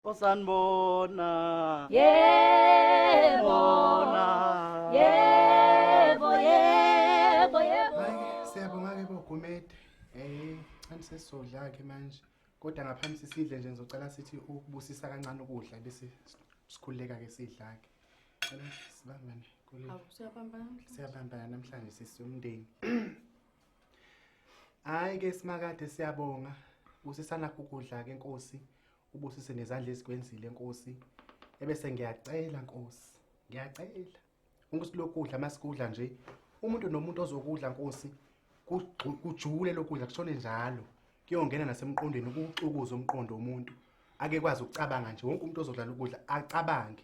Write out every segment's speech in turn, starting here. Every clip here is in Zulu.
osanibona yebo bona yebo yebo yebo Hayi, siyabonga ke bogumede eh kanti sesizodla ke manje kodwa ngaphambi sisidle nje ngizocela sithi ukubusisa kancane ukudla bese sikhululeka ke sidla ke cela sibambane kule siyabambana namhlanje sisi umndeni hayi ke simakade siyabonga busisana ukudla ke nkosi ubusise nezandla ezikwenzile nkosi ebese ngiyacela nkosi ngiyacela ungisilokudla masikudla nje umuntu nomuntu ozokudla nkosi kujule lokudla kushone njalo kuyongena nasemqondweni ukuxukuza umqondo womuntu ake kwazi ukucabanga nje wonke umuntu ozodlala ukudla acabange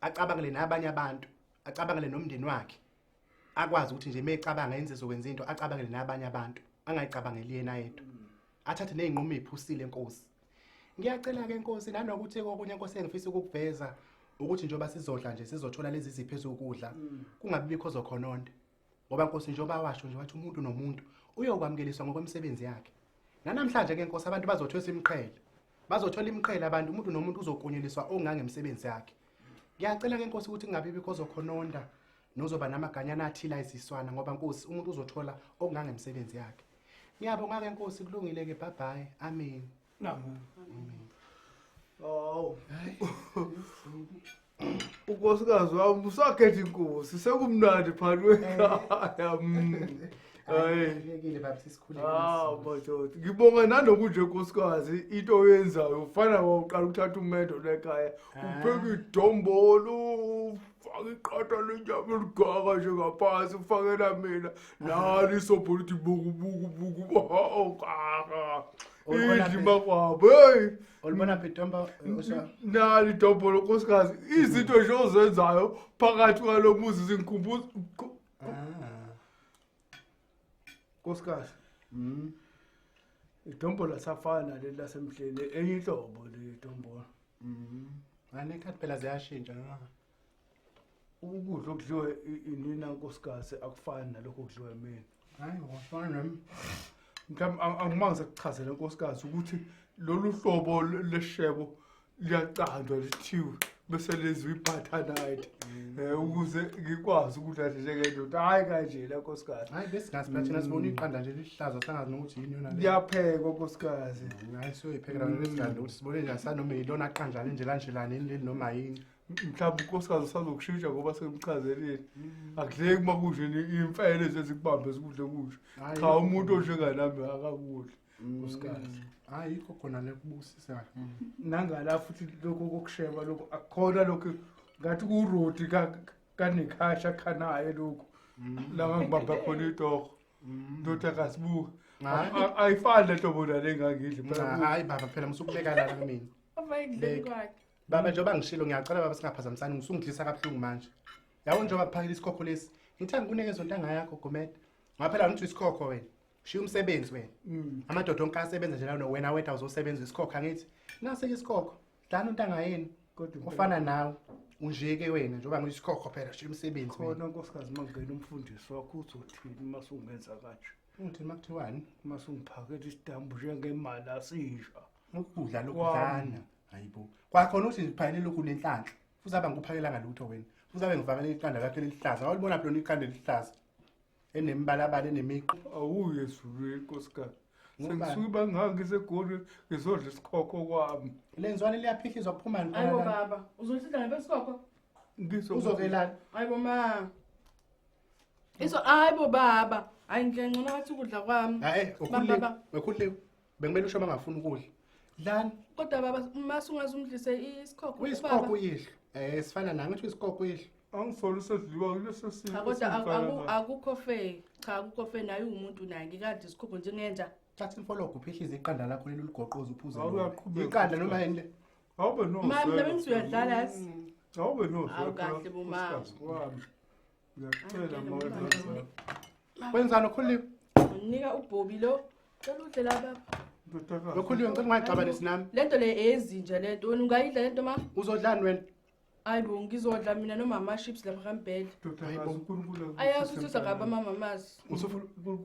acabangele nabanye abantu acabangele nomndeni wakhe akwazi ukuthi nje mecabanga yenze zokwenza into acabangele nabanye abantu angayicabangeli yena yedwa athathe nezinqumo eziphusile inkosi Ngiyacela ke Nkosi nanokuthi kokunye Nkosi engifisa ukukuveza ukuthi njengoba sizodla nje sizothola lezi zipho ezokudla mm. kungabi bikho zokhononde ngoba Nkosi njengoba washo nje wathi umuntu nomuntu uyokwamukeliswa ngokwemisebenzi yakhe nanamhlanje ke Nkosi abantu bazothwesa imiqhele bazothola imiqhele abantu umuntu nomuntu uzokunyuliswa ongangemsebenzi yakhe ngiyacela ke Nkosi ukuthi kungabi bikho zokhononda nozoba namaganyana athila iziswana ngoba Nkosi umuntu uzothola ongangemsebenzi yakhe Ngiyabonga ke Nkosi kulungile ke bye bye. Amen. Amen. Amen. Oh. Unkosikazi wami usakhetha inkosi sekumnandi phakathi kwekhaya. Mm. Hayi. Ngiyekile baba sisikhulile. Ah, madoda. Ngibonga nanokunje nkosikazi into oyenzayo ufana wawuqala ukuthatha umendo lekhaya. Upheka idombolo, faka iqatha lenyama eligaka nje ngaphansi ufakela mina nali isobho lithi bukubukubuku okaka Olibona idli phi? makwabo heyi Olibona phi Tombo? Usha. nali dobho lonkosikazi izinto nje ozenzayo phakathi kwalo muzi zingikhumbuza Ah. Nkosikazi. Mhm. Idombola safana leli lasemhleni enye inhlobo le dombola. Mhm. Ngane khathi phela ziyashintsha na? Ukudla okudliwa i- inina nkosikazi akufani nalokho okudliwa mina. Hayi wafana nami. Mhlawumbe ang- angimange sekuchazele nkosikazi ukuthi lolu hlobo le- leshebo liyacandwa lithiwe bese lenziwa ibutternite um ukuze ngikwazi ukudla nje njengendoda hhayi kanje la nkosikazi hayi besingazi phela thina sibona iqanda nje lihlaza sangazi nokuthi yini yona le liyaphekwa nkosikazi hayi siyoyiphekela nona esiganda ukuthi sibone nje asanoma yilona qanja lenje lanjelani yini leli noma yini mhlawumbe unkosikazi usazokushintsha ngoba semchazelile akudleki uma kunje ni- imfene zezikubambe zikudle kusho Hhayi, cha umuntu onjenganami akakudli uskazi hayi yikho khona le kubusisayo nangala futhi lokhu kokusheba lokhu akukhona lokhu ngathi kurodi kanekhasha khanaye lokhu laba ngibamba khona itoho ndoda kasibuka ayifani lento bona le ngangidli hayi baba phela musukubeka lana kumina abayidleli kwakhe baba njengoba ngishilo ngiyacela baba singaphazamisani ngisungidlisa kabuhlungu manje yabo njengoba kuphakela isikhokho lesi ngithanda kunike zonto angayakho gomede ngaphela ngithi isikhokho wena shiya umsebenzi wena Mm. amadoda onke asebenza nje lano wena weda uzosebenza isikhokha ngithi nase-ke isikhokho dlana untanga yenu Kodwa impela- ufana nawe unje-ke wena njengoba ngiyisikhokho phela shiya umsebenzi wena khona nkosikazi mangena umfundisi wakho uzothini uma sungenza kanje uthi uma kuthiwani uma sungiphakela isitambu njengemali asisha ukudla lokudlana hayibo kwakhona uthi ngiphakelele lokhu nenhlanhla futhi abe ngikuphakelanga lutho wena futhi abe ngivakele iqanda lakhe lelihlaza awulibona phela iqanda elihlaza enemibalabala enemiqo awuye ezulwini nkosikazi sengisuke ibangaka isegoli ngizodla isikhokho kwami lenzwane liyaphihliza kuphumani ayibo baba uzohlidla ngebesikokho uzokelana ayibo ma iso ayibo baba hayi ngiyancono wathi ukudla kwami hayi ukhulile ukhulile Bekumele usho bangafuna ukudla. Lani? Kodwa baba mase ungaze umdlise isikhokho. Uyisikhokho uyihlo. Eh sifana nami uthi isikhokho uyihlo. Angisolo usedliwa kuleso simo. Cha kodwa akukho fair. Cha akukho fair naye umuntu naye ngikade isikhokho njengenja. Thatha imfologo uphihlize iqanda lakho leli ligoqoza uphuze. Iqanda noma yini le? Awube no. Mama nami ngizuyadlala yazi. Awube no. Awukahle bomama. Ngiyakucela ma wenza njalo. Wenzani okhulile? Unika ubhobi lo. Cela udle la baba. Ndodakazi. Lokhulile ngicela ungayixabanisi nami. Lento le eyezinja lento. Wena ungayidla lento ma? Uzodlani wena? Hayi bo ngizodla mina nomama chips lapha kambhedla. Ndodakazi uNkulunkulu akusize Ayazi ukuthi uzokuba emhlabeni. mama mazi.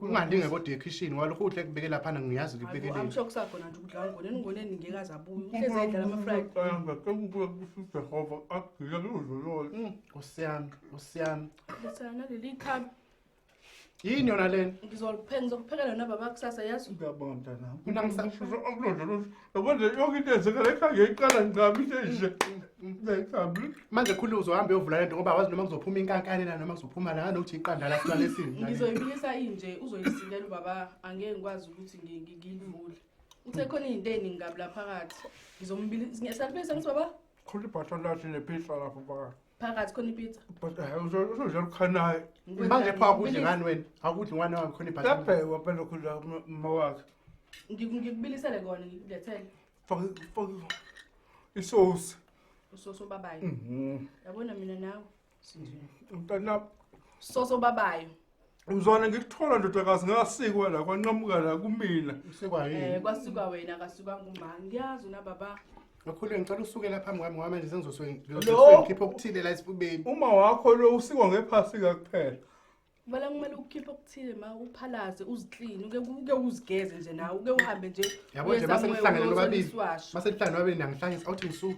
ungalinge kodwa ekhishini walokhu udle kubeke laphana ngiyazi ngibekele amsho kusakhona nje ukudla ngoneni ngoneni ngeke azabuye uhlezi edlala ama fried ayanga kekubuya kusize hova agila lozolol mm, osiyami osiyami lesana leli khami yini yona lena ngizoliphenga ngizokuphekela nababa kusasa yazi ngiyabonga mntana kunangisasho akulodlolo Yabo nje yonke into yenzeka la ekhaya ngiyayiqala ngicaba into enje. Ngiyayicaba. manje khulu uzohambe uyovula lento ngoba awazi noma kuzophuma inkankane la noma kuzophuma la nganokuthi iqanda la sibale sini ngizoyibuyisa inje uzoyisilela ubaba angeke ngikwazi ukuthi ngi- ngi- ngiyivule uthe khona izinto eziningi kabi la phakathi ngizombilisa ngiyasalibuyisa ngithi baba khulu ibhatha lathi nepizza lapho phakathi phakathi khona ipizza but hayi uzo- uzodla lukhanayo Ngikwenza manje pha akudli ngibilis- ngani wena akudli ngani wami khona ibhasi labhekwa phela khula uma wakhe ngiku- ngikubilisele kona ngikudethele faka faka isosi usoso obabayo Mhm. yabona mina nawe mntanami soso obabayo Mzwana ngikuthola ndodakazi ngasikwa la kwanqamuka la kumina. Usikwa Eh yini? kwasuka wena kasuka ngumba ngiyazi una baba. Ngakhuleke ngicela usuke la phambi kwami ngoba manje sengizoswe Lo- ngikhiphe okuthile la esifubeni. Uma wakho lo usikwa ngephasi kakuphela. Kumele kumele ukhiphe okuthile ma uphalaze uziclean uke uke uzigeze nje nawe uke uhambe nje. Yabo nje uye somewhere, masekuhlangene uyothola lobabili. isiwasho. Masekuhlangene lobabili nangihlangisa awuthi ngisuke.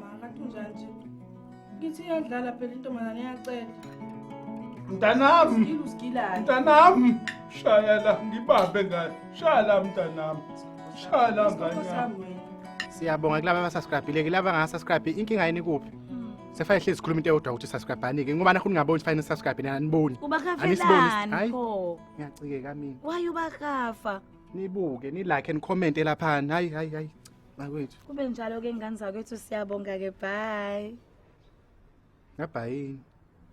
Makathunjanje. Ngithi iyadlala phela intombazane iyacela. Mntanami. Usigila usigilani? Mntanami. Shaya la ngibambe ngane. Shaya la mntanami. Shaya la ngane. yami. Siyabonga kulaba abasubscribile kulaba angasubscribe inkinga yini kuphi? Sefane hlezi sikhuluma into eyodwa ukuthi subscribe anike ngoba nakho ningaboni fine subscribe nina aniboni. Ubakafelani Hayi. pho? Ngiyacikeka mina. Why ubakafa? Nibuke nilike and comment lapha. Hayi hayi hayi. bakwethu kube njalo ke ngane zakwethu siyabonga ke bye ngabhayini